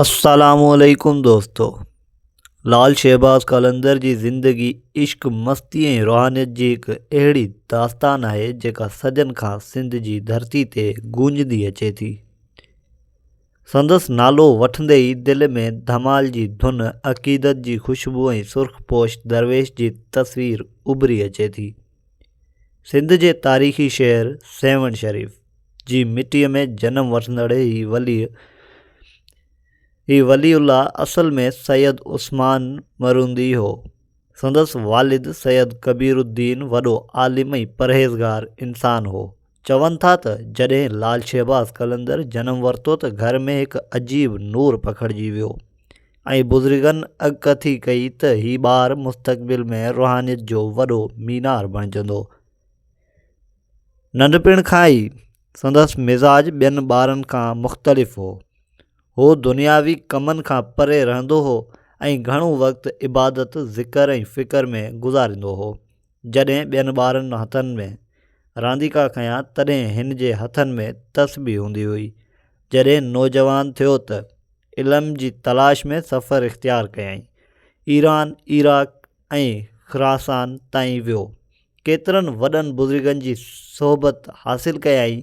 السلام عليڪم دوستو لعل شهباز قلندر جي زندگي عشق مستي ۽ روحانيت جي هڪ اهڙي داستان آهي جيڪا صدين کان سنڌ جي ڌرتي تي گونجندي اچي ٿي سندس نالو وٺندي ئي دل ۾ ڌمال جي ڌن عقيدت جي خوشبو ۽ سرخ پوش درويش جي تصوير اڀري اچي ٿي سنڌ جي تاريخي شهر سيوهڻ شريف جي مٽيء ۾ جنم وٺندڙ هي ولي هي ولي الله اصل ۾ سيد عثمان مرهوندي هو. سندس والد سيد ڪبير الدين وڏو عالم ۽ پرهيزگار انسان هو. چون ٿا ته جڏهن لال شهباز قلندر جنم ورتو ته گهر ۾ هڪ عجيب نور پکڙجي ويو ۽ بزرگن اڳڪٿي ڪئي ته هي ٻار مستقبل ۾ روحانيت جو وڏو مينار بڻجندو. ننڍپڻ کان ئي سندس مزاج ٻين ٻارن کان مختلف هو. هو دنياوي ڪمن کان پري رهندو هو ۽ گهڻو وقت عبادت، ذڪر ۽ فڪر ۾ گذاريندو هو. جڏهن ٻين ٻارن هٿن ۾ رانديڪا کنيا تڏهن هن جي هٿن ۾ تسبيح هوندي هئي. جڏهن نوجوان ٿيو ته علم جي تلاش ۾ سفر اختيار ڪيائين. ايران، عراق ۽ خراسان تائين ويو. ڪيترن وڏن بزرگن جي صحبت حاصل ڪيائين.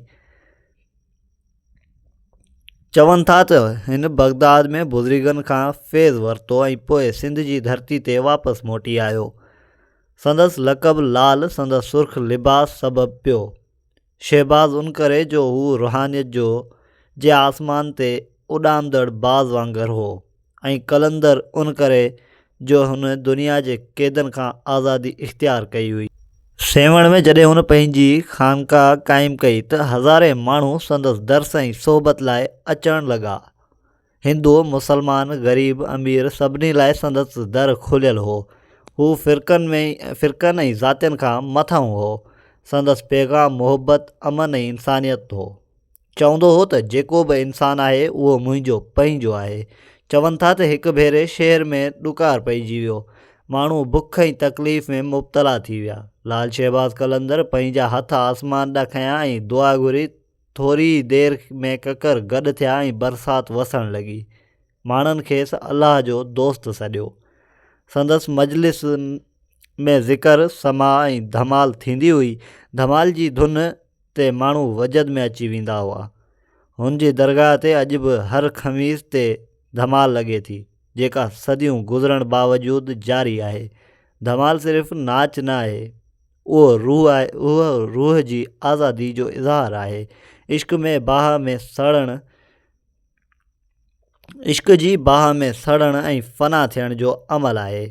چون ٿا ته هن بغداد ۾ بزرگن کان فيض ورتو ۽ پوء سنڌ جي ڌرتي تي واپس موٽي آيو سندس لقب لال سندس سرخ لباس سبب پيو شهباز ان ڪري جو هو روحانيت جو جي آسمان تي اڏامندڙ باز وانگر هو ۽ قلندر ان ڪري جو هن دنيا جي قيدن کان آزادي اختيار ڪئي هئي. سيوهڻ ۾ جڏهن هن پنهنجي خانقاهه قائم ڪئي ته هزارين ماڻهو سندس درس ۽ صحبت لاء اچڻ لڳا. هندو، مسلمان، غريب، امير سڀني لاء سندس در کليل هو. هو فرقن ۾ فرقن ۽ ذاتين کان مٿاهون هو. سندس پيغام محبت، امن ۽ انسانيت هو. چوندو هو ته جيڪو به انسان آهي اهو منهنجو، پنهنجو، آهي. چون ٿا ته هڪ ڀيري شهر ۾ ڏڪار پئجي ويو. ماڻهو بک ۽ تڪليف ۾ مبتلا ٿي ويا. لعل شهباز قلندر پنهنجا هٿ آسمان ڏانهن کنيا ۽ دعا گهري ٿوري ئي دير ۾ ڪڪر گڏ ٿيا ۽ برسات وسڻ لڳي. ماڻهن کيس الله جو دوست سڏيو. سندس مجلس ۾ ذڪر، سماع ۽ ڌمال ٿيندي هئي. ڌمال جي ڌن تي ماڻهو وجد ۾ اچي ويندا هئا. هن جي درگاهه تي اڄ به هر خميس تي ڌمال لڳي ٿي، جيڪا صديون گذرڻ باوجود جاري آهي. ڌمال صرف ناچ نه آهي. اهو روح آهي اهو روح جي آزادي جو اظهار آهي عشق ۾ باهه ۾ سڙڻ عشق جي باهه ۾ سڙڻ ۽ فنا ٿيڻ جو عمل آهي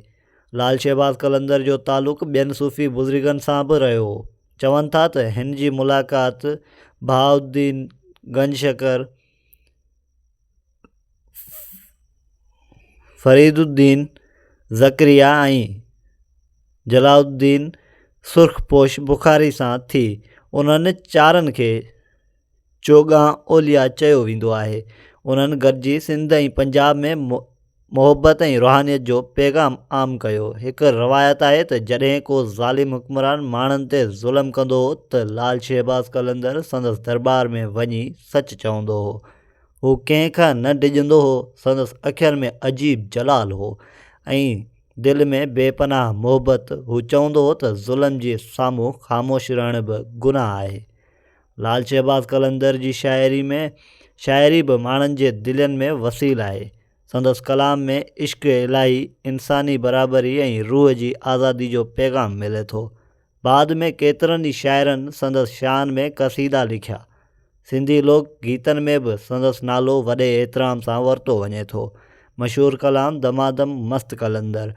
لال شهباز قلندر جو تعلق ٻين صوفي بزرگن سان به رهيو هو چون ٿا ته هن جي ملاقات بهاء الدين گنج شڪر فريد الدين ذڪريا ۽ جلا الدين سرخ پوش بخاري سان ٿي انهن چارن کي چوگان اوليا چيو ويندو آهي انهن گڏجي سنڌ ۽ پنجاب ۾ محبت ۽ روحانيت جو پيغام عام ڪيو. هڪ روايت آهي ته جڏهن ڪو ظالم حڪمران ماڻهن تي ظلم ڪندو هو ته لال شهباز قلندر سندس درٻار ۾ وڃي سچ چوندو هو. هو ڪنهن کان نه ڊڄندو هو، سندس اکين ۾ عجيب جلال هو ۽ دل ۾ بي پناهه محبت. هو چوندو هو ته ظلم جي سامهون خاموش رهڻ به گناهه آهي. لعل شهباز قلندر جي شاعري ۾ شاعري به ماڻهن جي دلين ۾ وسيل آهي. سندس ڪلام ۾ عشق الاهي، انساني برابري ۽ روح جي آزادي جو پيغام ملي ٿو. بعد ۾ ڪيترن ئي شاعرن سندس شان ۾ قصيدا لکيا. سنڌي لوڪ گيتن ۾ به سندس نالو وڏي احترام سان ورتو وڃي ٿو. مشهور ڪلام دمادم مست قلندر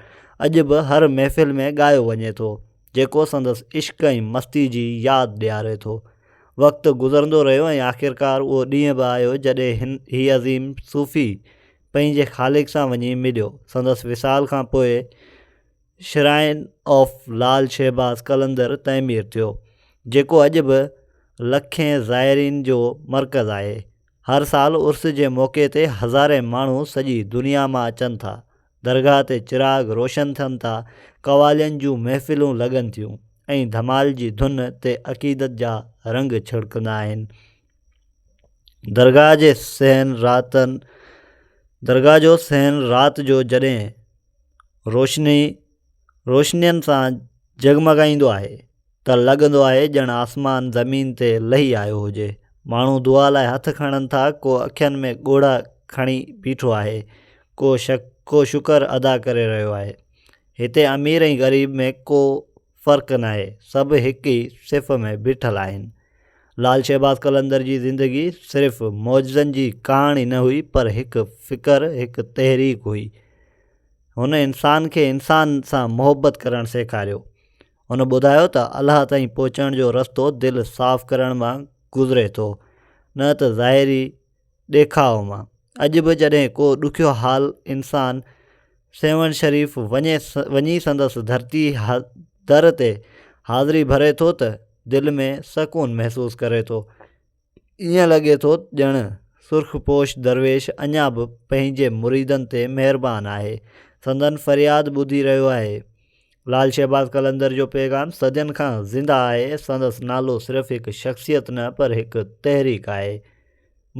اڄ به هر محفل ۾ ڳايو وڃي ٿو. جيڪو سندس عشق ۽ مستي جي ياد ڏياري ٿو. وقت گذرندو رهيو ۽ آخرڪار اهو ڏينهن به آيو جڏهن هن هي عظيم صوفي پنهنجي خالق سان وڃي مليو. سندس وصال کان پوء شرائن آف لال شهباز قلندر تعمير ٿيو، جيڪو اڄ به لکين زائرين جو مرڪز آهي. هر سال عرس جي موقعي تي هزارين ماڻهو سڄي دنيا مان اچن ٿا درگاهه تي چراغ روشن ٿين ٿا، قوالين جون محفلون لڳن ٿيون ۽ ڌمال جي ڌن تي عقيدت جا رنگ ڇڙڪندا آهن. درگاهه جي صحن راتن درگاهه جو صحن رات جو جڏهن روشني روشنين سان جڳمڳائيندو آهي. ته لڳندو آهي ڄڻ آسمان زمين تي لهي آيو هجي. ماڻهو دعا لاء هٿ کڻن ٿا، ڪو اکين ۾ ڳوڙها کڻي بيٺو آهي، ڪو ڪو شڪر ادا ڪري رهيو آهي. هتي امير ۽ غريب ۾ ڪو فرق ناهي، سڀ هڪ ئي صف ۾ بيٺل آهن. لعل شهباز قلندر جي زندگي صرف معجزن جي ڪهاڻي نه هئي پر هڪ فڪر، هڪ تحريڪ هئي. هن انسان کي انسان سان محبت ڪرڻ سيکاريو. هن ٻڌايو ته الله تائين پهچڻ جو رستو دل صاف ڪرڻ مان گذري ٿو نه ته ظاهري ڏيکاء مان اڄ به جڏهن ڪو ڏکيو حال انسان سيوهڻ شريف وڃي وڃي سندس ڌرتي در تي حاضري ڀري ٿو ته دل ۾ سڪون محسوس ڪري ٿو ائين لڳي ٿو ڄڻ سرخ پوش درويش اڃا به پنهنجي مريدن تي مهربان آهي، سندن فرياد ٻڌي رهيو آهي. لعل شهباز قلندر جو پيغام صدين کان زنده آهي، سندس نالو صرف هڪ شخصيت نه پر هڪ تحريڪ آهي.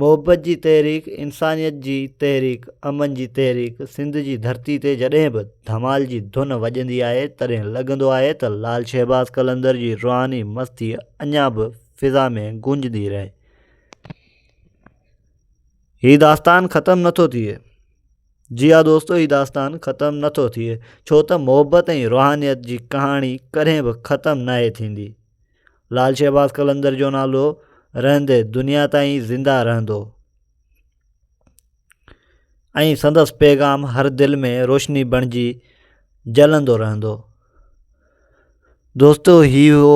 محبت جي تحريڪ، انسانيت جي تحريڪ، امن جي تحريڪ، سنڌ جي ڌرتي تي جڏهن به ڌمال جي ڌن وڄندي آهي تڏهن لڳندو آهي ته لعل شهباز قلندر جي روحاني مستي اڃا به فضا ۾ گونجندي رهي. هي داستان ختم نٿو ٿئي جي ها دوستو هي داستان ختم نٿو ٿئي ڇو ته محبت ۽ روحانيت جي ڪهاڻي ڪڏهن به ختم ناهي ٿيندي لال شهباز قلندر جو نالو رهندي دنيا تائين زنده رهندو ۽ سندس پيغام هر دل ۾ روشني بڻجي جلندو رهندو دوستو هي هو